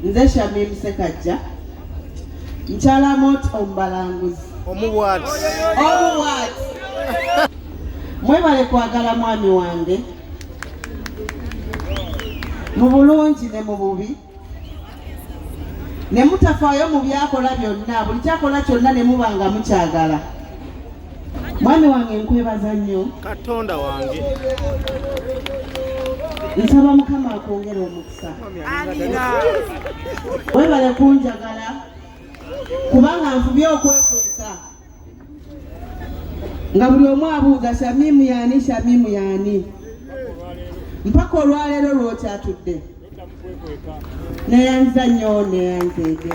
Nze Shamim Sekajja Nchala mot Ombalanguzi Omuwat Omuwat Mwebale kwagala mwami wange mu bulungi ne mu bubi ne mutafaayo mu byakola byonna buli kyakola kyonna ne muba nga mukyagala mwami wange nkwebaza nnyo katonda wange nsaba mukama akwongera omukisa webale kunjagala kubanga nfubye okwekweka nga buli omu abuuza shamimu yani shamimu yani mpaka olwaleero lwokyatudde neyanza nnyo neyanzeege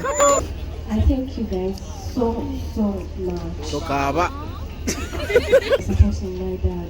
I thank you guys so, so much. Tokaba. Supporting my dad.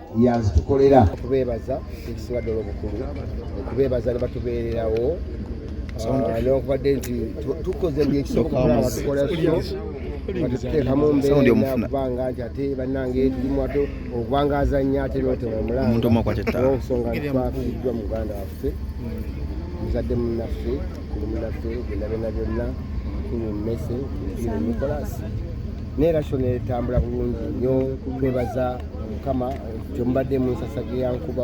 yazitukolera okubeebaza ekisinga ddala obukulu okubeebaza ne batubeererawo ah, nokubadde nti tukoze buli ekisoboka tukola batuteekamu mbeeraokubanga nti ate bannange tulimu ate okubanga azannya ate notema omulanga olwensonga nti twafiiddwa muganda waffe muzadde munnaffe kulumulaffe byonna byonna omukulu mmese mpira nikolasi naye rasho netambula bulungi nyo twebaza mukama kyemubadde munsasage yankuba